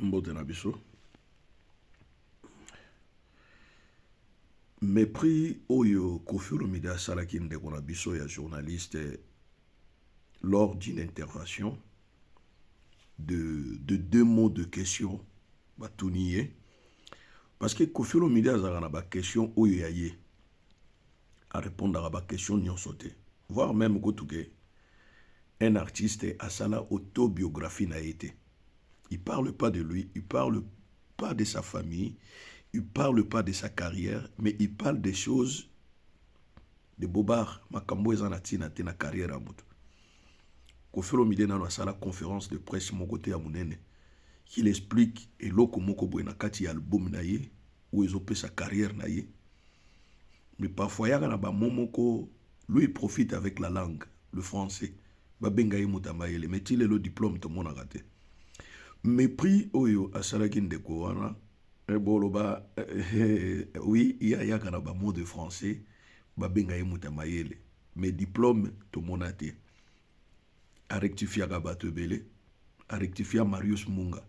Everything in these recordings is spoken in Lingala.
mbote na biso mepris oyo kofi olomide asalaki ndeko na biso ya journaliste lors d'une intervention de, de deux mots de question batuni ye parce que kofi olomide azalaka na baquestion oyo ya ye a repondaka ba question nionso te voir meme kutu ke un artiste asala autobiographie na ye te il parle pas de lui il parle pas de sa famille il parle pas de sa carrière mais il parle des choses de bobard makambo eza na tina te na carrière ya moto Koffi Olomide nano asala conférence de presse moko te ya munene qu'il explique eloko moko boye na kati ya album na ye oyo ezopesa carrière na ye Mais parfois ayaka na ba mots moko lui il profite avec la langue le français babenga ye moto ya mayele mais ti lelo diplome tomonaka te mepris oyo asalaki ndeko wana eh, boloba eh, eh, oui ye ayaka na bamo de français babenga ye moto ya mayele mais diplome tomona te a rectifiaka bato ebele a rectifia marius munga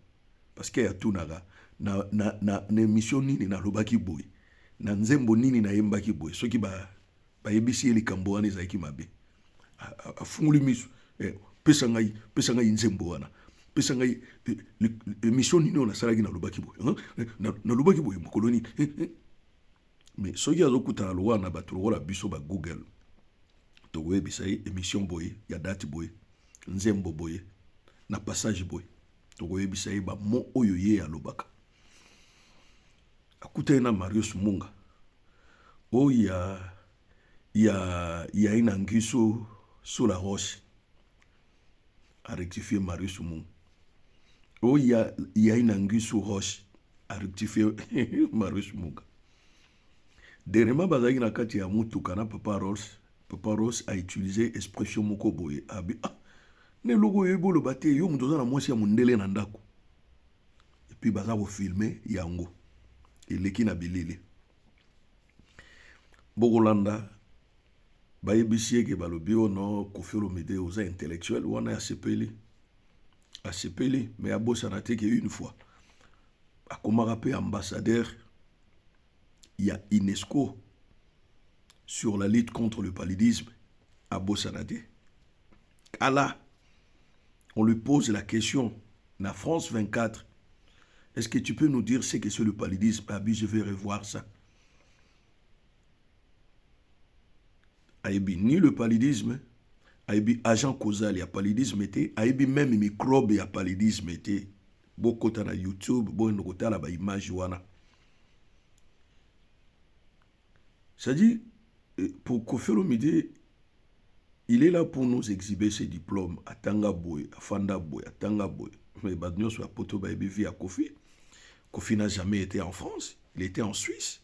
parce que atunaka na, na, na, na emission nini nalobaki boye na nzembo nini nayembaki boye soki bayebisi ba ye likambo wana ezalaki mabe afungoli miso eh, pesa ngai pesa ngai nzembo wana pesa ngai eh, emission nini oyo nasalaki nalobaki boye nalobaki boye mokolo nini eh, eh. mais soki azokutana lokola na bato lokola biso ba google tokoyebisa ye émission boye ya date boye nzembo boye na passage boye tokoyebisa ye bamo oyo ye alobaka akutani na marius munga oyo ya ya ya inangiso sur la roche a rectifier Marius Mou. Oh, il y a, il y a une anguille sous roche a rectifier Marius Muga. Dernièrement, bazalaki na kati ya mutuka na Papa Rolls. Papa Rolls a utilisé expression moko boye abi ah na eloko oyebi oloba te yo moto oza na mwasi ya mondele na ndako epuis baza kofilme yango eleki na bilili bokolanda Bayebisi ye ke balobi oh non Koffi Olomide oza intellectuel wana asepeli asepeli mais abosana te ke une fois akomaka pe ambassadeur ya UNESCO sur la lutte contre le paludisme abosana te kala on lui pose la question na France 24 est-ce que tu peux nous dire ce que c'est le paludisme abi je vais revoir ça ayebi ni le paludisme ayebi agent causal ya paludisme te ayebi meme microbe ya paludisme te bokota na youtube boyende kotala baimage wana cestadire euh, pour kofelo midi il est là pour nous exhiber ses diplômes atanga boye afanda boye atanga boye mais bato nyonso ya poto bayebi vie ya kofi kofi n'a jamais été en france il était en suisse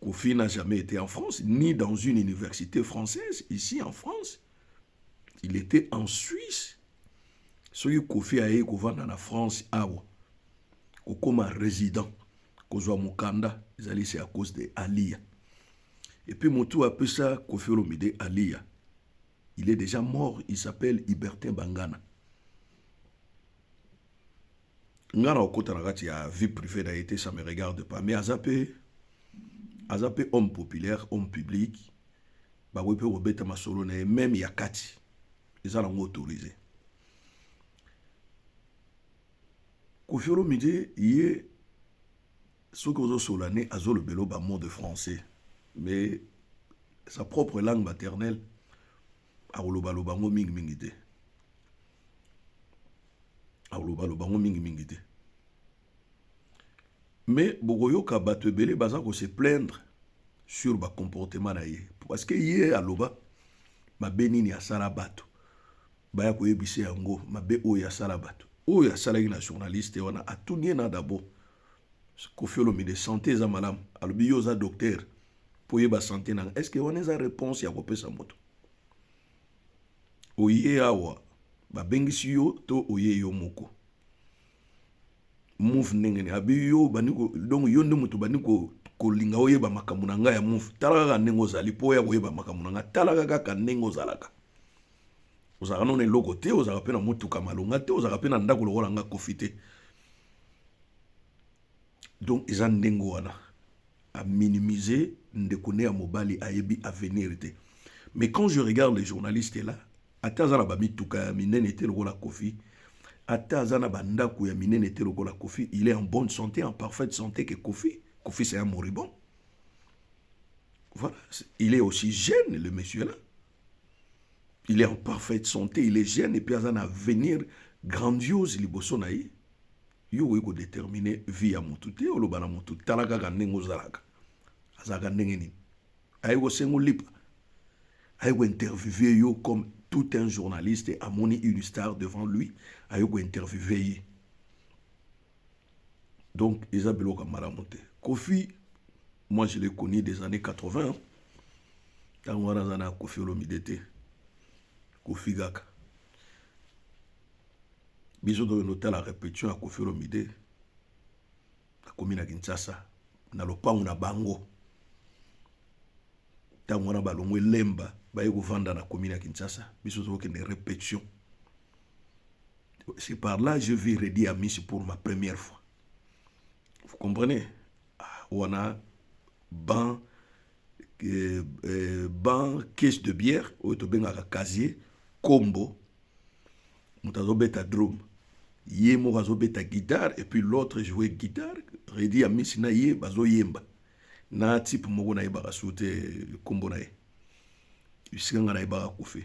Kofi n'a jamais été en France, ni dans une université française, ici en France. Il était en Suisse. Soki Kofi aye kovanda na France awa, kokoma résident, kozwa mukanda, ezali c'est à cause de Aliya. Et puis mutu apesa Kofi Olomide Aliya, il est déjà mort, il s'appelle Ibertin Bangana. nga na okota na kati ya vie privée na ye te ça me regarde pas mais aza pe aza pe homme populaire homme public bakoki mpe kobeta masolo na ye meme ya kati eza nango autorise kofi olomide ye soki ozosola ne azolobelo bamot de français mais sa propre langue maternelle akolobaloba yango mingimingi te akolobaloba yango mingimingi te mais bokoyoka bato ebele baza kose plaindre sur bacomportement na ye parce que ye aloba mabe nini asala bato baya koyebisa yango mabe oyo asala bato oyo asalaki na journaliste wana atuni ye na dabord Koffi Olomide sante eza malamu alobi yo oza docteur mpo oyeba sante nanga est ce que wana eza reponse ya kopesa moto oye awa babengisi yo to oye yo moko move ndenge nini abi yo bandi donc yo nde moto bandi kolinga oyeba makambo na ngai ya move tala kaka ndenge ozali mpo oya koyeba makambo na ngai talaka kaka ndenge ozalaka ozalaka nona eloko te ozalaka mpe na motuka malonga te ozalaka mpe na ndako lokola nga kofi te donc eza ndenge wana aminimize ndeko ne ya mobali ayebi avenir te mais quand je regarde les journalistes là ata aza na bamituka ya minene te lokola kofi ata aza na bandako ya minene te lokola kofi il est en bonne santé en parfaite santé que kofi kofi c'est un moribond voilà il est aussi jeune le monsieur là il est en parfaite santé il est jeune epuis aza na avenir grandiose liboso na ye yo okoki kodetermine vie ya motu te oloba na motu tala kaka ndenge ozalaka azalaka ndenge nini aye kosenga olipa aye kointerviewe yo comme tout un journaliste amoni une star devant lui aye kointerviewe ye donc eza biloko ya malamu te kofi moi je le connu des années 80 ntango wana aza na kofi olomide te kofi kaka biso tokende otala repetition ya kofi olomide akomi na kinshasa na lopango na bango ntango wana balongwe lemba baye kovanda na komi na kinshasa biso tokokende repetition C'est par là je vis Reddy Amisi pour ma première fois. Vous comprenez ah, On a ban, euh, euh, ban caisse de bière, au tobengaka casier, combo, mutazobeta drum. Ye moko azobeta guitare et puis l'autre jouait guitare. Reddy Amisi na ye bazo yemba. Na type moko na ye bakasute combo na ye. Bisika nga na ye bakakufi.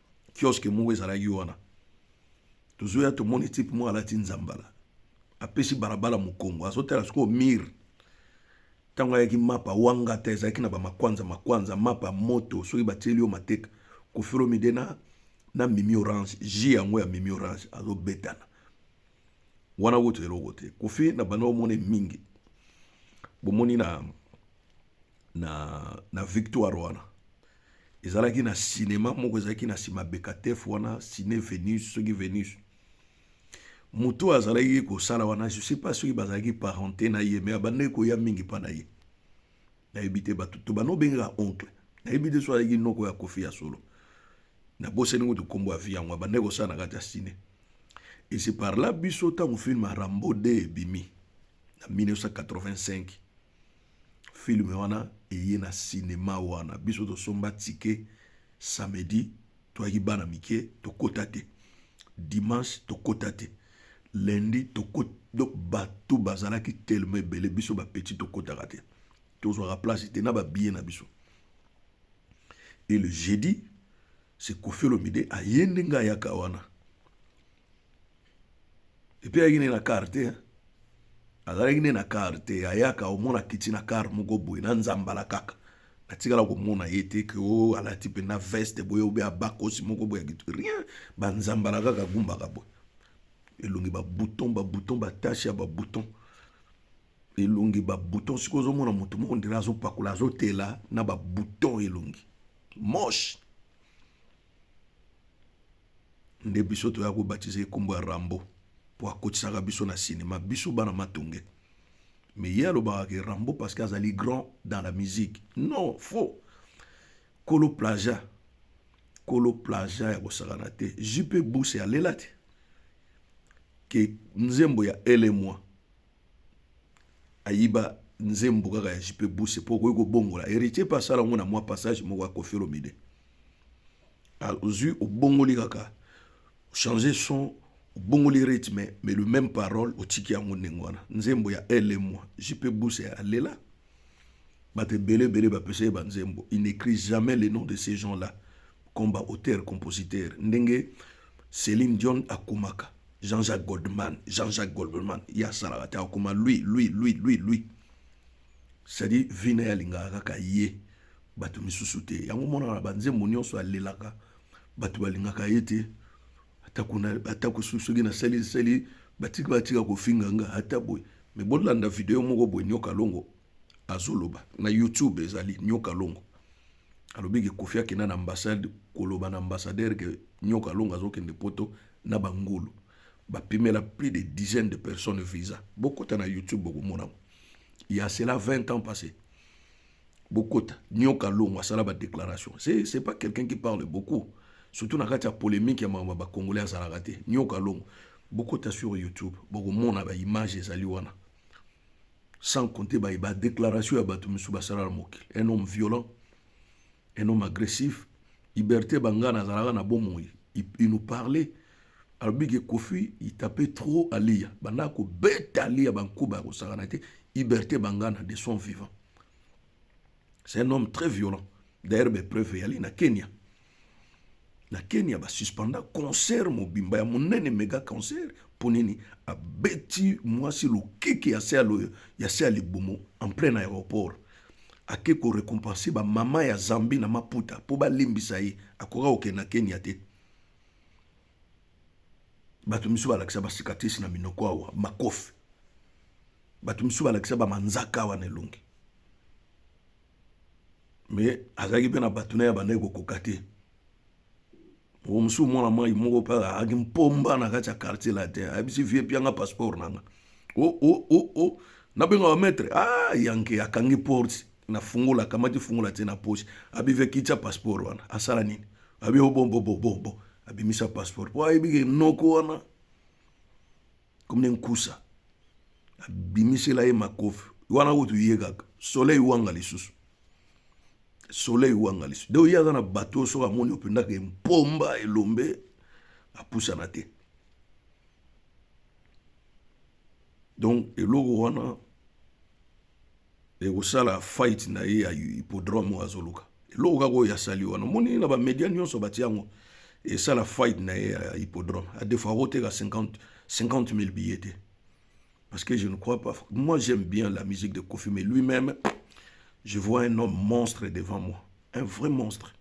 kioske moko ezalaki wana tozoya tomoni tipe moko alati nzambala apesi balabala mokongo azotala sikoyo mire ntango ayaki mapa wangata ezalaki na bamakwanza makwanza mapa moto soki batieli yo mateka kofilo mide na, na mimi orange ji yango ya mimi orange azobetana wana kutu eloko te kofi na banda omone mingi bomoni na na, na victoire wana ezalaki na cinéma moko ezalaki na nsima bekatef wana ciné venus soki venus moto oyo azalaki kosala wana je sais pas soki bazalaki parente na ye me abandaki koya mingi mpa na ye nayebi te bato to bana obengaka oncle nayebi te so azalaki noko ya kofi ya solo nabosani kutu nkombo ya vi yango abandaki kosala na kati ya ciné esi parla biso ntango filme ya rambo 2 ebimi na 1985 Film wana eye na cinema wana biso tosomba ticket samedi toyaki bana mike tokota te dimanche tokota te lundi tokota donc bato bazalaki telema ebele biso bapeti tokotaka te tozwaka place te na babiye na biso e le jeudi se kofi olomide aye ndenge ayaka wana epe ayaki nde na kar te azalaki nde na kar te ayaka omona kiti na kar moko boye na nzambala kaka atikala komona ye te ke o oh, alati mpenza veste boye obe abakosi moko boye akitu rien banzambala kaka gumbaka boye elongi babouton babouton batashe ya babouton elongi ba bouton siko ozomona motu moko ndela azopakola azotela na ba bouton elongi moche nde biso toya kobatiza ye nkombo ya rambo mpo akotisaka biso na sinema biso bana matonge me ye alobaka ke rambo parce que azali grand dans la musique non faux kolo plaja kolo plaja ya kosakana te jupe buse alela te ke nzembo ya elemwa ayiba nzembo kaka ya JP Buse mpo okoki kobongola. Heritier mpe asala yango na mwa passage moko ya Koffi Olomide. Azwi obongoli kaka changer son obongoli rythme mais le même parole otiki yango ndenge wana. Nzembo ya Elle et moi JP Buse alela Bato ebele ebele ba pesa ye ba nzembo, il n'ecrit jamais les noms de ces gens là comme ba auteurs compositeurs ndenge Celine Dion akomaka Jean Jacques Goldman, Jean Jacques Goldman ye asalaka te akoma lui lui lui lui lui c'est à dire vie na ye alingaka kaka ye bato misusu te, yango omonaka na ba nzembo nionso alelaka bato balingaka ye te. atako soki nasali nsali batika batika kofinga nga ata boye me bolanda video moko boye nyoka longo azoloba na youtube ezali nyoka longo alobi ke kofi akenda na ambassade koloba na ambassadeur ke nyoka longo azokende poto na bangulu bapimela plus de dizaine de personnes visa bokota na youtube bokomonango ya cela 20 ans passé bokota nioka longo asala ba déclaration c'est c'est pas quelqu'un qui parle beaucoup surtout na kati ya polemique ya makambo ba congolais azalaka te nioka longo bokota sur youtube bokomona ba image ezali wana sans compter ba, ba déclaration ya bato mosusu basala na mokili un homme violent un homme agressif liberté bangana azalaka na bomoi il, il nous parlait alobi ke kofi il tape trop aliya banda kobeta aliya bankuba ya kosakana te iberte bangana de son vivant c'est un homme très violent d'ailleurs bepreuve eyali na kenya na kenya basuspenda concert mobimba ya monene mega concert mpo nini abeti mwasi lokeke ya se ya se ya libumu en plein aéroport ake korecompense bamama ya zambi na maputa mpo balimbisa ye akoka kokende na kenya te bato misusu balakisa basikatrisi na minoko awa makofi bato misusu balakisa bamanzaka awa na elongi me azalaki mpe na bato na ye abandaki kokoka te moko mosusu mwana mwai moko mpe azalaki mpomba na kati ya quartier latin ayebisi vie pianga passeport nanga o o o o nabenga bamaître a ah, yanke akangi porte na fungola akamati fungola atie na poche abivi akitisa passeport wana asala nini abi obombobobobo oh, abimisa passeport po ayebi ke noko wana komi ne nkusa abimisela ye makofi wana kutu ye kaka soleil wanga lisusu soleil wanga lisusu donc ye aza na bato soki amoni opendaka empomba elombe apusana te donc eloko wana ekosala fight na ye ya hippodrome oyo azoluka eloko kaka oyo asali wana omoni na bamedia nyonso batia yango esala fight na ye ya hippodrome adefo akoteka 50 000 billet te parce que je ne crois pas moi j'aime bien la musique de kofi mais lui-même je vois un homme monstre devant moi un vrai monstre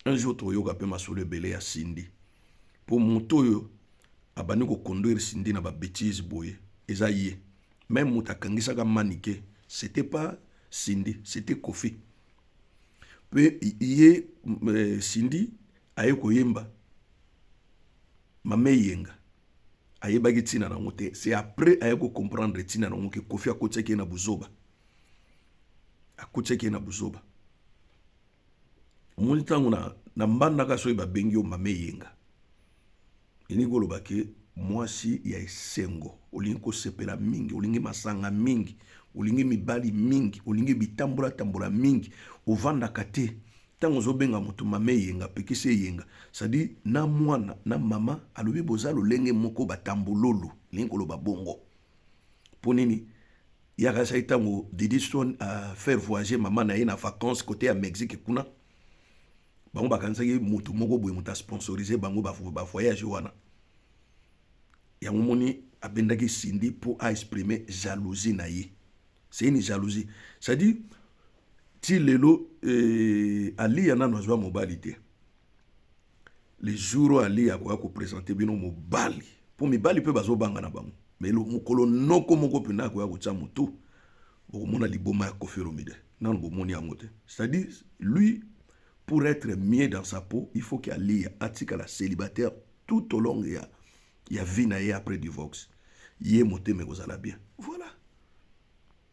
un jour toyoka mpe masolo ebele ya sindi mpo moto oyo abandi koconduire sindi na babetise boye eza ye Meme moto akangisaka manike c'était pas Cindy, c'était Kofi. Pe ye euh, Cindy aye koyemba Mame Yenga ayebaki ntina na yango te c'est après aye kocomprendre ntina na yango ke kofi akotisaki ye na buzoba akotisaki ye na buzoba omoni ntango na, na mbandaka soki babengi yo mama eyenga elingi koloba ke mwasi ya esengo olingi kosepela mingi olingi masanga mingi olingi mibali mingi olingi bitambolatambola mingi ovandaka te ntango ozobenga moto mama eyenga apekisi eyenga sadi na mwana na mama alobi boza lolenge moko batambololo elingi koloba bongo mpo nini yaka sai ntango didistone a faire voyager mama na ye na vacance kote ya mexique kuna bango bakanisaki motu moko boye moto asponsorise bango bavoyage wana yango moni abendaki sindi mpo aexprime jalousie na ye c'est une jalousie c'est-à-dire ti lelo euh, aliya nano azwa mobali te le jour oyo aliya akoya kopresente bino mobali mpo mibali mpe bazobanga na bango me mokolo noko moko mpena akoya kotya motu bokomona liboma ya kofi olomide nano bomoni yango te c'est-à-dire lui pour être mieux dans sa peau il faut que aliya atikala célibataire tout au long ya, ya vie na ye après divorce ye motema ekozala bien voilà